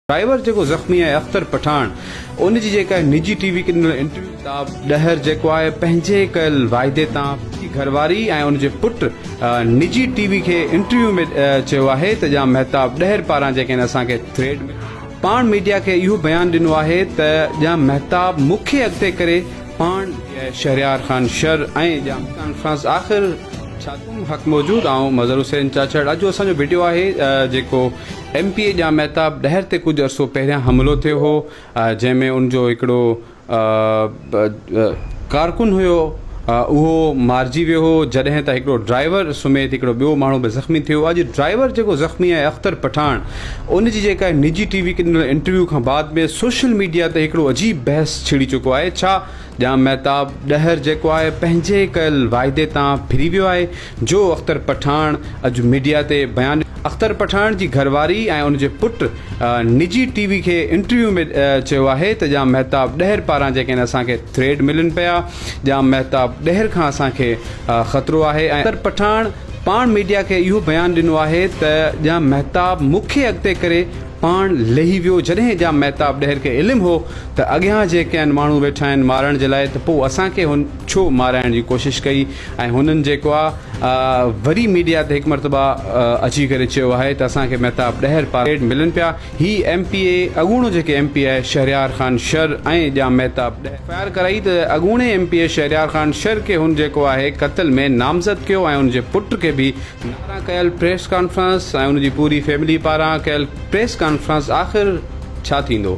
Driver جيڪو زخمي آهي اختر پٺاڻ ان جي جيڪا نجي ٽي وي کي ڏنل انٽرويو ڪتاب ڏهر جيڪو آهي پنهنجي ڪيل واعدي تان پنهنجي گهرواري ۽ ان جي پٽ نجي ٽي وي کي انٽرويو ۾ چيو آهي ته ڄام مهتاب ڏهر پاران جيڪڏهن اسان کي ٿريڊ ملي پاڻ ميڊيا کي اهو بيان ڏنو آهي ته ڄام مهتاب مون کي اڳتي ڪري پاڻ شهريار خان شر ۽ ڄام ڪانفرنس آخر ڇا تون حق موجود آئون مظهر حسين چاچڙ اڄ جو اسان جو وڊيو آهي جيڪو M P A Jam Mahtab Dahar تي ڪجهه عرصو پهريان حملو ٿيو هو جنهن ۾ ان جو هڪڙو ڪارڪن هيو اهو مارجي ويو هو جڏهن ته هڪڙو ڊرائيور سميت هڪڙو ٻيو ماڻهو به زخمي ٿيو اڄ ڊرائيور جيڪو زخمي آهي اختر پٺاڻ ان جي جيڪا نجي ٽي وي کي ڏنل انٽرويو کان بعد ۾ سوشل ميڊيا تي هڪڙو عجيب بحث ڇڙي چڪو آهي ڇا ڄام مهتاب ڏهر جيڪو آهي پنهنجي ڪيل واعدي تان ڦري ويو آهي جو اختر پٺاڻ اڄ ميڊيا تي بيان ڏنو. اختر پٺاڻ جي گهر واري ۽ ان جي پٽ نجي ٽي وي کي انٽرويو ۾ چيو آهي ته ڄام مهتاب ڏهر پاران جيڪڏهن اسان کي ٿريڊ ملن پيا ڄام مهتاب ڏهر کان اسان کي خطرو آهي ۽ اختر پٺاڻ پاڻ ميڊيا کي اهو بيان ڏنو آهي ته ڄام مهتاب مون کي اڳتي ڪري پاڻ لهي ويو جڏهن ڄام مهتاب ڏهر کي علم هو ته اڳيان جي ڪين ماڻهو ويٺا آهن مارڻ جي لاء ته پوء اسان کي هن ڇو مارائڻ جي ڪوشش ڪئي ۽ هنن جيڪو آ وري ميڊيا تي هڪ مرتبه اچي ڪري چيو آهي ته اسان کي مهتاب ڏهر پاريڊ ملن پيا هي ايم پي اي اڳوڻو جيڪي M P A Shahryar Khan Shar ۽ Jam Mahtab Dahar fire ڪرائي ته اڳوڻي M P A Shahryar Khan Shar کي هن جيڪو آهي قتل ۾ نامزد ڪيو ۽ ان جي پٽ کي به پاران ڪيل پريس ڪانفرنس ۽ ان جي پوري فيملي پاران ڪيل پريس ڪانفرنس آخر ڇا ٿيندو؟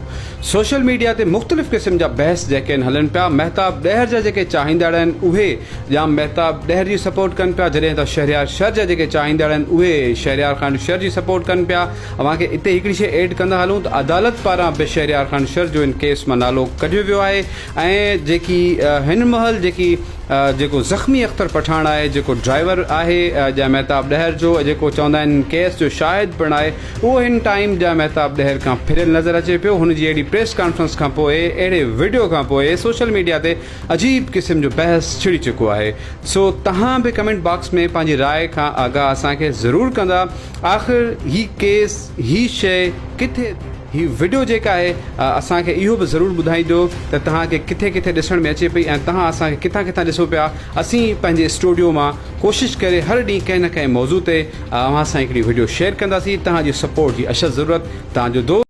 سوشل ميڊيا تي مختلف قسم جا بحث جيڪين هلن پيا مهتاب ڏهر جا جيڪي چاهيندڙ آهن اهي ڄام مهتاب ڏهر جي سپورٽ ڪن پيا جڏهن ته شهريار شر جا جيڪي چاهيندڙ آهن اهي شهريار خان شر جي سپورٽ ڪن پيا اوهان کي اتي هڪڙي شئي ايڊ ڪندا هلون ته عدالت پاران به شهريار خان شر جو ان ڪيس مان نالو ڪڍيو ويو آهي ۽ جيڪي هن مهل جيڪي جيڪو زخمي اختر پٺاڻ آهي جيڪو ڊرائيور آهي جاء مهتاب ڏهر جو جيڪو چوندا آهن ڪيس جو شاهد پڻ آهي اهو هن ٽائيم جاء مهتاب ڏهر کان ڦريل نظر اچي پيو هن جي اهڙي پريس ڪانفرنس کان پوء اهڙي وڊيو کان پوء سوشل ميڊيا تي عجيب قسم جو بحث ڇڙي چڪو آهي سو تهان به ڪمينٽ باڪس ۾ پنهنجي راء کان آگاهه اسان کي ضرور ڪندا آخر هي ڪيس هي شئي ڪٿي هي وڊيو جيڪا آهي اسان کي اهو به ضرور ٻڌائيندو ته توهان کي ڪٿي ڪٿي ڏسڻ ۾ اچي پئي ۽ توهان اسان کي ڪٿان ڪٿان ڏسو پيا اسين پنهنجي اسٽوڊيو مان ڪوشش ڪري هر ڏينهن ڪنهن نه ڪنهن موضوع تي اوهان سان هڪڙي وڊيو شيئر ڪنداسين توهان جي سپورٽ جي اشد ضرورت توهان جو دوست